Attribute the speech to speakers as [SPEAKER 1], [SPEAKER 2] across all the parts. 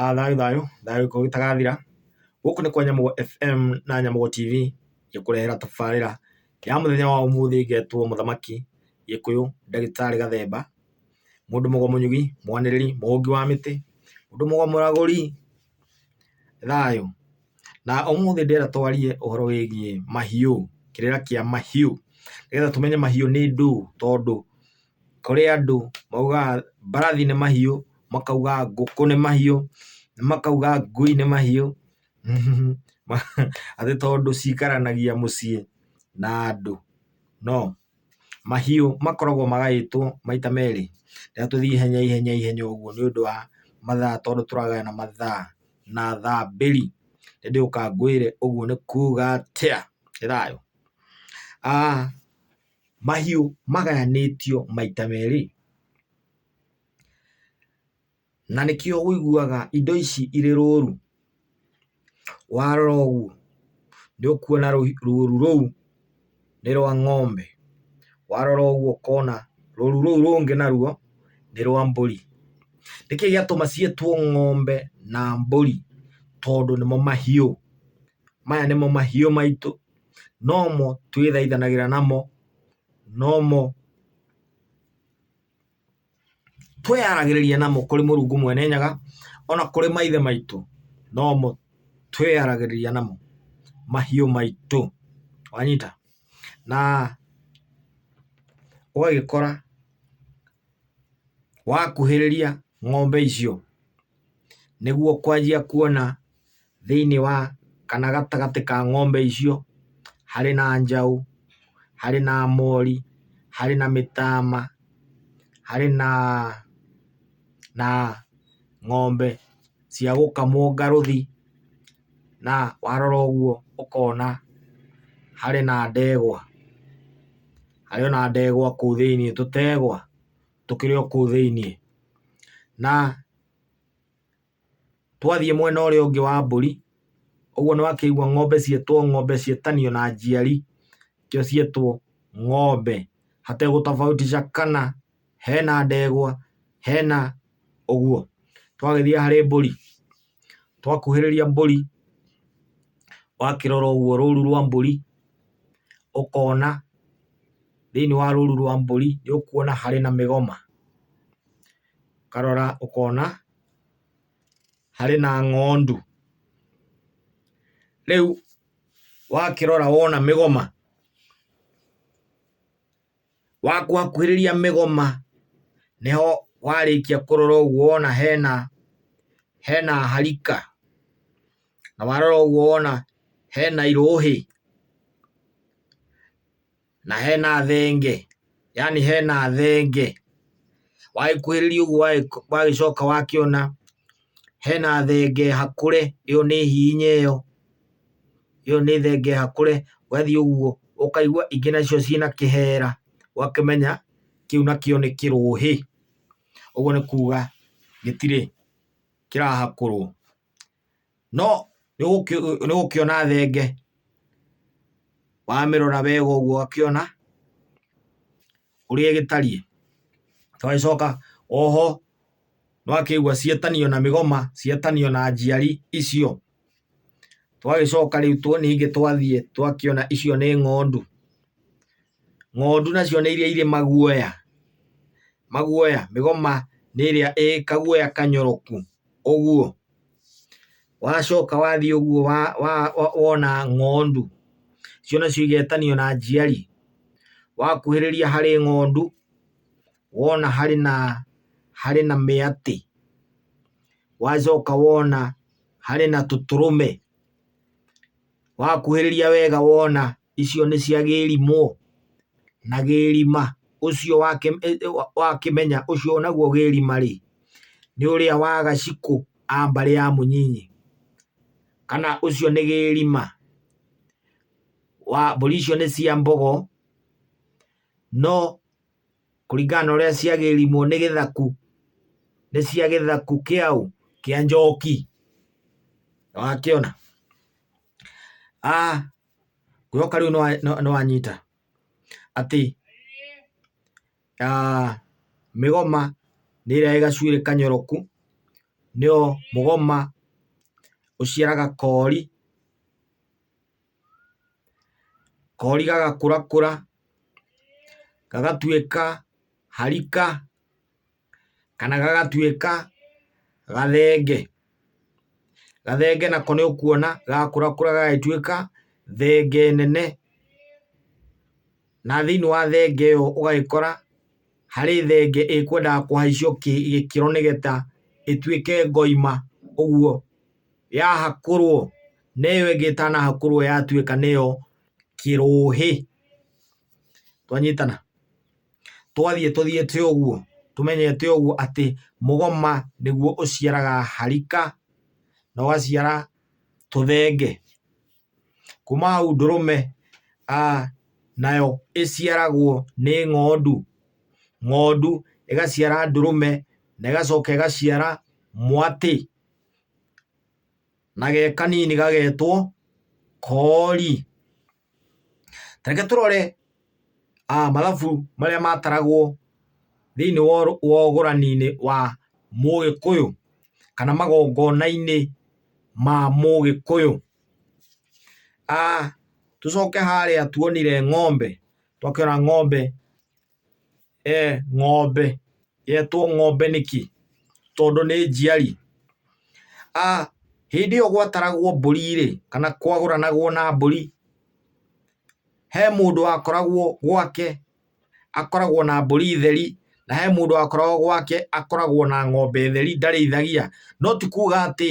[SPEAKER 1] A thayũ thayũ thayũ ũngĩkorwo ũtarathira, gũkũ nĩ kwa Nyamũgo FM na Nyamũgo TV ĩkũrehera tabarĩra ya mũthenya wa ũmũthĩ ĩgetwo Mũthamaki Gĩkũyũ Ndagĩtarĩ Gathemba, mũndũ mũgo mũnyugi, mwanĩrĩri, mũhũngi wa mĩtĩ, mũndũ mũgo mũragũri, thayũ. Na ũmũthĩ ndĩrenda twarie ũhoro wĩgiĩ mahiũ, kĩrĩra kĩa mahiũ, nĩgetha tũmenye mahiũ nĩ ndũũ tondũ Kũrĩ andũ maugaga mbarathi nĩ mahiũ, makauga ngũkũ nĩ mahiũ, makauga ngui nĩ mahiũ, atĩ tondũ cikaranagia mũciĩ na andũ. No, mahiũ makoragwo magaĩtwo maita merĩ. Reke tũthiĩ ihenya ihenya ihenya ũguo nĩ ũndũ wa mathaa tondũ tũragana na mathaa na thaa mbĩri. Ĩndĩ ũka ngwĩre ũguo nĩ kuuga atĩa. Ĩĩ thayũ? Mahiũ magayanĩtio maita merĩ, na nĩkĩo ũiguaga indo ici irĩ rũru, warora ũguo nĩ ũkuona rũru rũu nĩ rwa ng'ombe, warora ũguo ũkona rũru rũu rũngĩ naruo nĩ rwa mbũri. Nĩkĩo gĩatũma ciĩtwo ng'ombe na mbũri tondũ nĩmo mahiũ. maya nĩmo mahiũ maitũ, nomo twĩthaithanagĩra namo, nomo twĩyaragĩrĩria namo kũrĩ Mũrungu Mwene Nyaga, o na kũrĩ maithe maitũ, nomo twĩyaragĩrĩria namo, mahiũ maitũ. Wanyita? Na ũgagĩkora... Wakuhĩrĩria ng'ombe icio nĩguo ũkwanjia kuona thĩiniĩ wa kana gatagatĩ ka ng'ombe icio harĩ na njaũ, harĩ na mori, harĩ na mĩtama, harĩ na na ng'ombe cia gũkamwo ngarũthi na warora ũguo ũkona harĩ na ndegwa. harĩ ona ndegwa kũu thĩiniĩ, tũtegwa tũkĩrĩ o kũu thĩiniĩ. Na twathiĩ mwena ũrĩa ũngĩ wa mbũri, ũguo nĩ wakĩigua ng'ombe ciĩtwo ng'ombe ciĩtanio na njiari, nĩkĩo ciĩtwo ng'ombe hategũtabautisha kana... hena ndegwa, hena ũguo. Twagĩthiĩ harĩ mbũri, twakuhĩrĩria mbũri, wakĩrora ũguo rũru rwa mbũri, ũkona thĩiniĩ wa rũru rwa mbũri nĩ ũkuona harĩ na mĩgoma, ũkarora ũkona harĩ na ng'ondu. Rĩu wakĩrora wona mĩgoma... Wakuhakuhĩrĩria mĩgoma nĩho warĩkia kũrora ũguo wona hena hena harika na warora ũguo wona hena irũhĩ na hena thenge yani hena thenge. Wagĩkuhĩrĩria ũguo wagĩcoka wakĩona hena thenge hakũre ĩyo nĩ hihinya ĩyo. ĩyo nĩ thenge hakũre, ũgathiĩ ũguo ũkaigua ingĩ nacio ciĩna kĩhera, ũgakĩmenya kĩu nakĩo nĩ kĩrũhĩ, ũguo nĩ kuga gĩtirĩ kĩrahakũrwo. No nĩũgũkĩona thenge wamĩrora wega ũguo ũgakĩona ũrĩa gĩtariĩ. Twagĩcoka oho nĩwakĩigua cietanio na mĩgoma, cietanio na njiari icio. Twagĩcoka rĩu ningĩ twathiĩ twakĩona icio nĩ ng'ondu. Ng'ondu nacio nĩ iria irĩ maguoya, maguoya, mĩgoma nĩ ĩrĩa ĩ kaguoya kanyoroku ũguo. Wacoka wathiĩ ũguo wa, wa, wa, wona ng'ondu icio nacio igetanio na njiari wakuhĩrĩria harĩ ng'ondu wona harĩ na harĩ na mĩatĩ wacoka wona harĩ na tũtũrũme wakuhĩrĩria wega wona icio nĩ cia gĩrimũ na gĩrima ũcio wakĩmenya ũcio naguo gĩrima rĩ nĩ ũrĩa wa gacikũ a mbarĩ ya mũnyinyi kana ũcio nĩ gĩrima wa mbũri icio nĩ cia mbogo no kũringana na ũrĩa cia gĩrimũ nĩ gĩthaku nĩ cia gĩthaku kĩaũ kĩa njoki nĩwakĩona? Ngwĩhoka rĩu nĩwanyita atĩ mĩgoma nĩ ĩrĩa ĩ gacuĩrĩ kanyoroku, nĩyo mũgoma ũciaraga koori, koori gagakũrakũra gagatuĩka harika. kana gagatuĩka gathenge. Gathenge nako nĩ ũkuona gakũrakũra gagagĩtuĩka thenge nene, na thĩiniĩ wa thenge ĩyo ũgagĩkora harĩ thenge ĩkwendaga kũhaicio gĩkĩro nĩgetha ĩtuĩke ngoima ũguo. Yahakũrwo na ĩyo ĩngĩ ĩtanahakũrwo yatuĩka nĩyo kĩrũhĩ. Twanyitana? Twathiĩ tũthiĩte ũguo, tũmenyete ũguo atĩ mũgoma nĩguo ũciaraga harika, na ũgaciara tũthenge. Kuma hau ndũrũme nayo ĩciaragwo nĩ ng'ondu, ng'ondu ĩgaciara ndũrũme na ĩgacoka ĩgaciara mwatĩ, na ge kanini gagetwo koori. Ta reke tũrore mathabu marĩa mataragwo thĩiniĩ wa ũgũrani-inĩ wa mũgĩkũyũ kana magongona-inĩ ma mũgĩkũyũ. Tũcoke harĩa tuonire ng'ombe, twakĩona ng'ombe Ng'ombe yetwo ng'ombe nĩkĩ? Tondũ nĩ njiari. Hĩndĩ ĩyo gwataragwo mbũri rĩ, kana kwagũranagwo na mbũri, he mũndũ wakoragwo gwake akoragwo na mbũri theri, na he mũndũ wakoragwo gwake akoragwo na ng'ombe theri ndarĩithagia. No ti kuga atĩ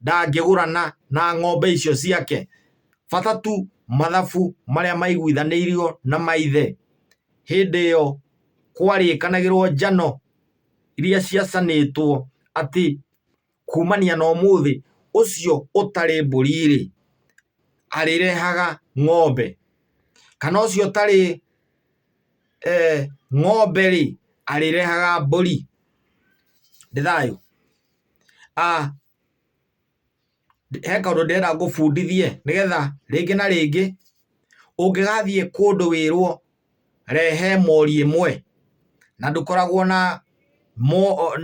[SPEAKER 1] ndangĩgũrana na ng'ombe icio ciake, bata tu mathabu marĩa maiguithanĩirio na maithe. hĩndĩ ĩyo kwarĩkanagĩrwo njano iria ciacanĩtwo atĩ kumania na ũmũthĩ ũcio ũtarĩ mbũri-rĩ, arĩrehaga ng'ombe, kana ũcio ũtarĩ ng'ombe-rĩ, arĩrehaga mbũri. Nĩ thayũ? he kaũndũ ndĩrenda ngũbundithie nĩgetha rĩngĩ na rĩngĩ ũngĩgathiĩ kũndũ wĩrwo rehe mori ĩmwe na ndũkoragwo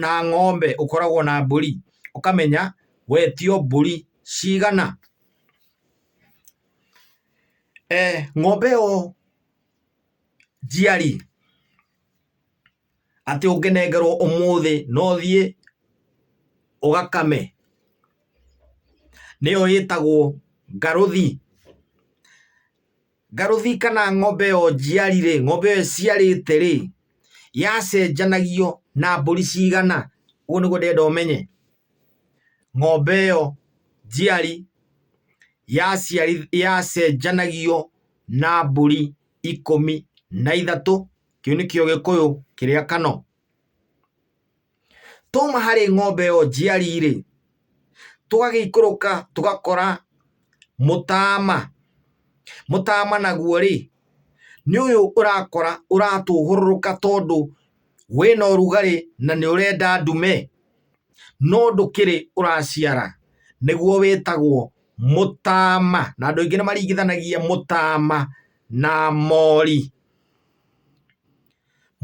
[SPEAKER 1] na ng'ombe ũkoragwo na mbũri ũkamenya wetio mbũri cigana. Ng'ombe ĩyo njiari... atĩ ũngĩnengerwo ũmũthĩ no ũthiĩ ũgakame nĩyo ĩtagwo ngarũthi. Ngarũthi kana ng'ombe ĩyo njiari rĩ, ng'ombe ĩyo ĩciarĩte rĩ, yacenjanagio na mbũri cigana? Ũguo nĩguo ndĩrenda ũmenye. Ng'ombe ĩyo njiari yacenjanagio na mbũri ikũmi na ithatũ kĩu nĩkĩo gĩkũyũ kĩrĩa kano twauma harĩ ng'ombe ĩyo njiari-rĩ tũgagĩikũrũka tũgakora mũtama mũtama naguo-rĩ nĩ ũyũ ũrakora ũratũhũrũrũka tondũ wĩna ũrugarĩ na nĩ ũrenda ndume no ndũkĩrĩ ũraciara nĩguo wĩtagwo mũtaama na andũ aingĩ nĩmaringithanagia mũtaama na mori.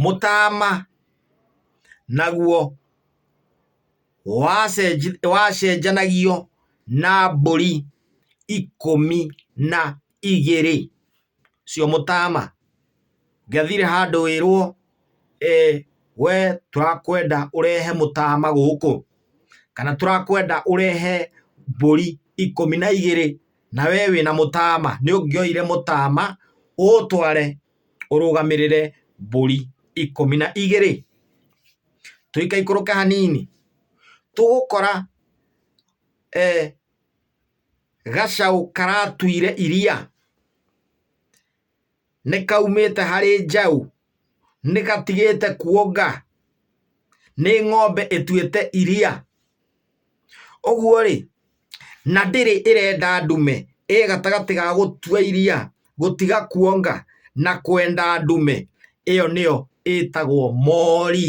[SPEAKER 1] Mũtaama naguo wacenjanagio na mbũri ikũmi na igĩrĩ. cio mũtaama ngathire handũ wĩrwo we tũrakwenda ũrehe mũtaama gũkũ kana tũrakwenda ũrehe mbũri ikũmi na igĩrĩ na we wĩna mũtaama nĩ ũngĩoire mũtaama ũũtware ũrũgamĩrĩre mbũri ikũmi na igĩrĩ. Tũikaikũrũka hanini tũgũkora Gacaũ karatuire iria, nĩkaumĩte harĩ njaũ, nĩgatigĩte kuonga, nĩ ng'ombe ĩtuĩte iria. Ũguo-rĩ, na ndĩrĩ ĩrenda ndume, ĩ gatagatĩ ga gũtua iria, gũtiga kuonga na kwenda ndume, ĩyo nĩyo ĩtagwo mori.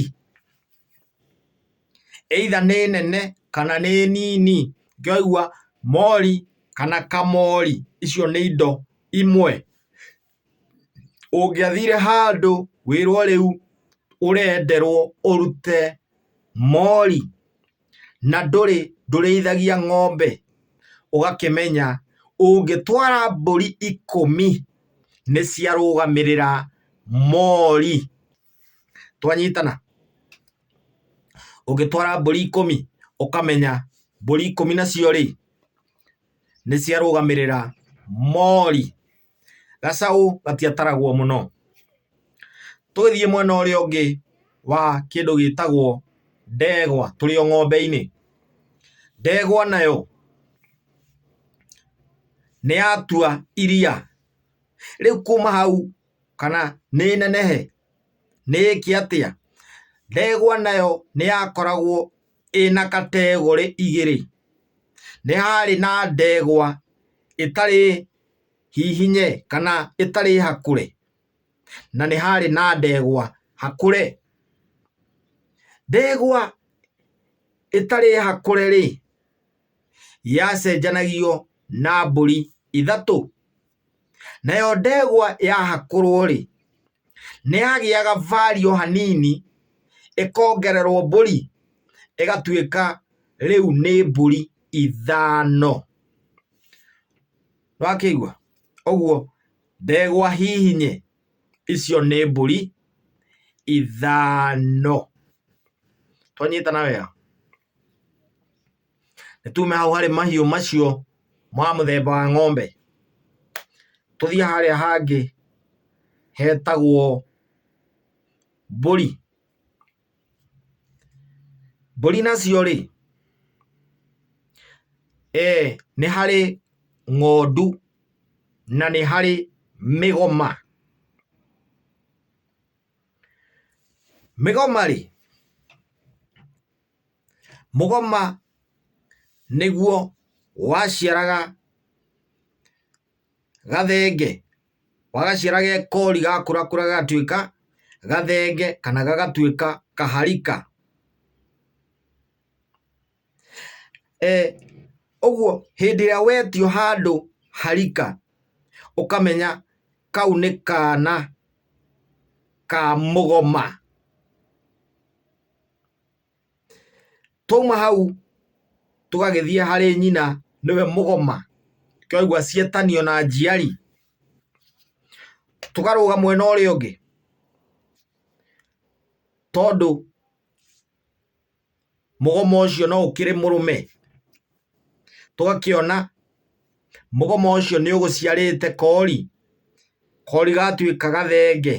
[SPEAKER 1] either nĩ nene kana nĩ nini, ngĩigua mori kana kamori, icio nĩ indo imwe. Ũngĩathire handũ wĩrwo rĩu ũrenderwo ũrute mori na ndũrĩ ndũrĩithagia ng'ombe ũgakĩmenya ũngĩtwara mbũri ikũmi nĩ ciarũgamĩrĩra mori. Twanyitana? Ũngĩtwara mbũri ikũmi ũkamenya mbũri ikũmi nacio rĩ, nĩ ciarũgamĩrĩra mori. Gacaũ gatiataragwo mũno. Tũgĩthiĩ mwena ũrĩa ũngĩ wa kĩndũ gĩtagwo ndegwa tũrĩ o ng'ombe-inĩ, ndegwa nayo nĩ yatua iria. Rĩu kuma hau kana nĩ nenehe? Nĩ ĩĩke atĩa? Ndegwa nayo nĩ yakoragwo ĩna kategorĩ igĩrĩ. Nĩ harĩ na ndegwa ĩtarĩ hihinye kana ĩtarĩ hakũre, na nĩ harĩ na ndegwa hakũre. Ndegwa ĩtarĩ hakũre-rĩ, yacenjanagio na mbũri ithatũ, nayo ndegwa yahakũrwo-rĩ, nĩyagĩaga value hanini ĩkongererwo mbũri ĩgatuĩka rĩu nĩ mbũri ithano. Nĩwakĩigua? Ũguo ndegwa hihinye icio nĩ mbũri ithano. Twanyitana wega? Nĩ tume hau harĩ mahiũ macio ma mũthemba wa ng'ombe, tũthiĩ harĩa hangĩ hetagwo mbũri. Mbũri nacio rĩ, nĩ harĩ ng'ondu na nĩ harĩ mĩgoma. Mĩgoma rĩ, mũgoma nĩguo waciaraga gathenge, wagaciara ge kori gakũrakũra gagatuĩka gathenge kana gagatuĩka kaharika. Ũguo hĩndĩ ĩrĩa wetio handũ ha rika, ũkamenya kau nĩ kana ka mũgoma. Twauma hau tũgagĩthiĩ harĩ nyina nĩwe mũgoma, nĩkĩo waigua cietanio na njiari. Tũkarũga mwena ũrĩa ũngĩ tondũ... mũgoma ũcio no ũkĩrĩ mũrũme tũgakĩona mũgoma ũcio nĩ ũgũciarĩte kori, kori gatuĩka gathenge.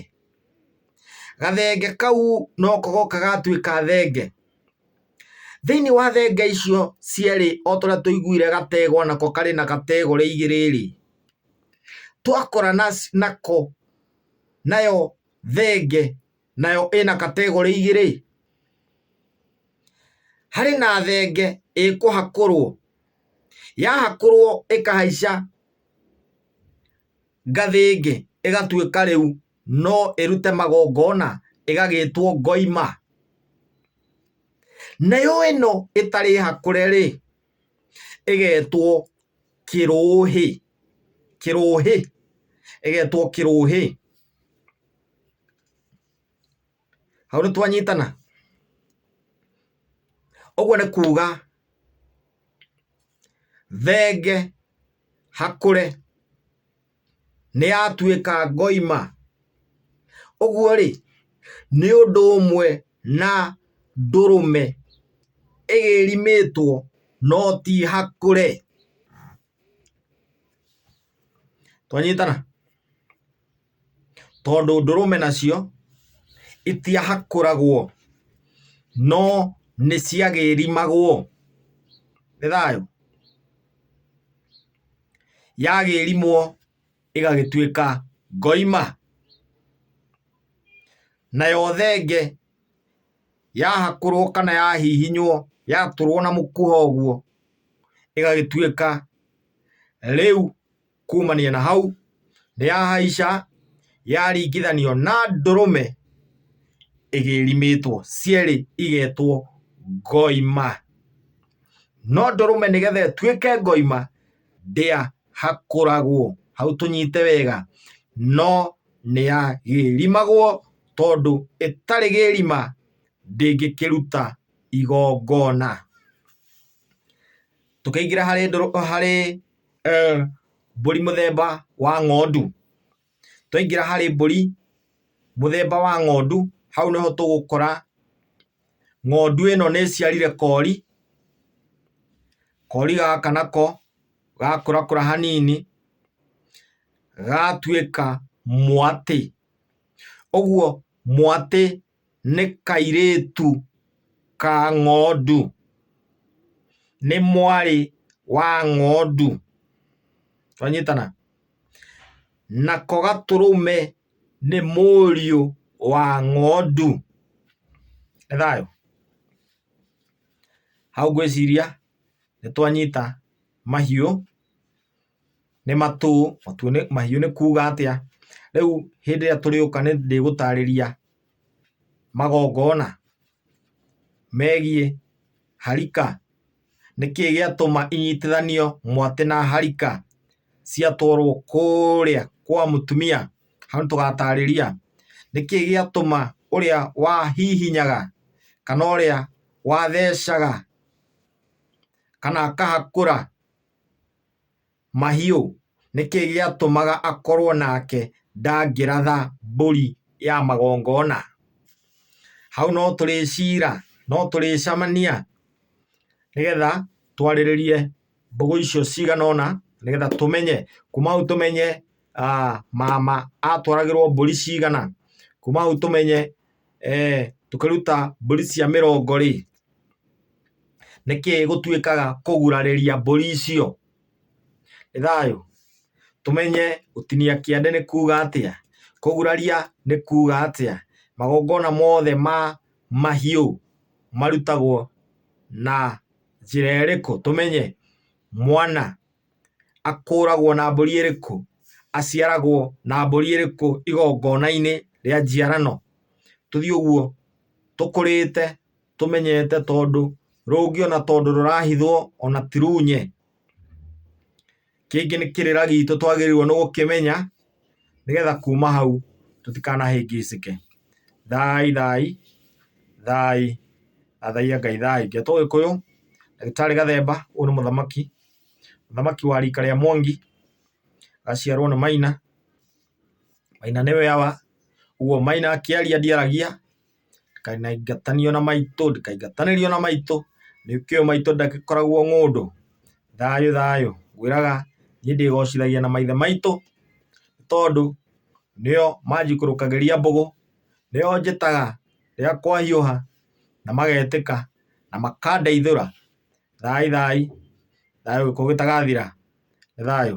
[SPEAKER 1] Gathenge kau noko goka gatuĩka thenge, thĩinĩ wa thenge icio cierĩ o torĩa tũiguire gategwa nako karĩ na gategwa rĩa igĩrĩ rĩ, twakora nako nayo thenge nayo ĩna kategorĩ igĩrĩ. Harĩ na thenge ĩkũhakũrwo, yahakũrwo ĩkahaica ngathĩ ĩngĩ ĩgatuĩka rĩu no ĩrute magongona ĩgagĩtwo ngoima. Nayo ĩno ĩtarĩ hakũre rĩ, ĩgetwo kĩrũhĩ, kĩrũhĩ, ĩgetwo kĩrũhĩ. Hau nĩ twanyitana? Ũguo nĩ kuuga thenge hakũre nĩ yatuĩka ngoima. Ũguo rĩ, nĩ ũndũ ũmwe na ndũrũme ĩgĩrimĩtwo no ti hakũre. Twanyitana? tondũ ndũrũme nacio itiahakũragwo no nĩ ciagĩrimagwo nĩ thayũ yagĩrimwo ĩgagĩtuĩka ngoima nayo thenge yahakũrwo kana yahihinywo yatũrwo na mũkwa ũguo ĩgagĩtuĩka rĩu. Kuumania na hau, nĩ yahaica yaringithanio na ndũrũme ĩgĩrimĩtwo, cierĩ igetwo ngoima. No ndũrũme nĩgetha ĩtuĩke ngoima, ndĩahakũragwo, hau tũnyite wega, no nĩ yagĩrimagwo tondũ ĩtarĩ gĩrima ndĩngĩkĩruta igongona. tũkĩingĩra harĩ ndũrũ harĩ eh, mbũri mũthemba wa ng'ondu twaingĩra harĩ mbũri mũthemba wa ng'ondu hau nĩho tũgũkora ng'ondu ĩno nĩ ĩciarire kori kori gaka nako gakũrakũra hanini gatuĩka mwatĩ ũguo mwatĩ nĩ kairĩtu ka ng'ondu, nĩ mwarĩ wa ng'ondu, twanyitana? nako gatũrũme nĩ mũriũ wa ng'ondu, nĩ thayũ? hau ngwĩciria nĩtwanyita mahiũ Nĩ matũ, matũ nĩ, mahiũ nĩ kuga atĩa? Rĩu hĩndĩ ĩrĩa tũrĩũka nĩ ndĩgũtarĩria magongona megiĩ harika. Nĩ kĩĩ gĩatũma inyitithanio mwatĩ na harika ciatwarwo kũũrĩa kwa mũtumia? Hau nĩ tũgatarĩria. Nĩ kĩĩ gĩatũma ũrĩa wahihinyaga kana ũrĩa wathecaga kana akahakũra Mahiũ, nĩ kĩĩ gĩatũmaga akorwo nake ndangĩratha mbũri ya magongona? Hau no tũrĩciira, no tũrĩcamania nĩgetha twarĩrĩrie mbũgũ icio cigana ũna nĩgetha tũmenye, kuma hau tũmenye mama atwaragĩrwo mbũri cigana, kuma hau tũmenye... tũkĩruta mbũri cia mĩrongo rĩ, nĩkĩ gũtuĩkaga kũgurarĩria mbũri icio? Nĩ thayũ? Tũmenye gũtinia kĩande nĩ kuuga atĩa? Kũguraria nĩ kuuga atĩa? Magongona mothe ma mahiũ marutagwo na njĩra ĩrĩkũ? Tũmenye mwana akũũragwo na mbũri ĩrĩkũ? Aciaragwo na mbũri ĩrĩkũ igongona-inĩ rĩa njiarano? Tũthiĩ ũguo tũkũrĩte tũmenyete tondũ rũngĩ ona tondũ rũrahithwo ona ti runye. Kĩngĩ nĩ kĩrĩra gitũ twagĩrĩirwo nĩ gũkĩmenya nĩgetha kuma hau tũtikanahĩngĩcĩke. Thai thai, thai, thathaiya Ngai thai. Ndeto Gĩkũyũ, ndagĩtarĩ Gathemba, ũyũ nĩ mũthamaki mũthamaki wa rika rĩa Mwangi, aciarwo nĩ Maina, Maina nĩwe awa, ũguo Maina akĩaria ndiaragia, ndikaingatanio na maitũ, ndikaingatanĩrio na maitũ, nĩkĩo maitũ ndagĩkoragwo ng'ũndũ, thayũ thayũ, ngwĩraga niĩ ndĩgocithagia na maithe maitũ, tondũ nĩo manjikũrũkagĩria mbũgũ, nĩo njĩtaga rĩrĩa kwahiũha, na magetĩka, na makandeithũra. Thai thai. Thayũ gĩkuũ gĩtagathira. Nĩ thayũ.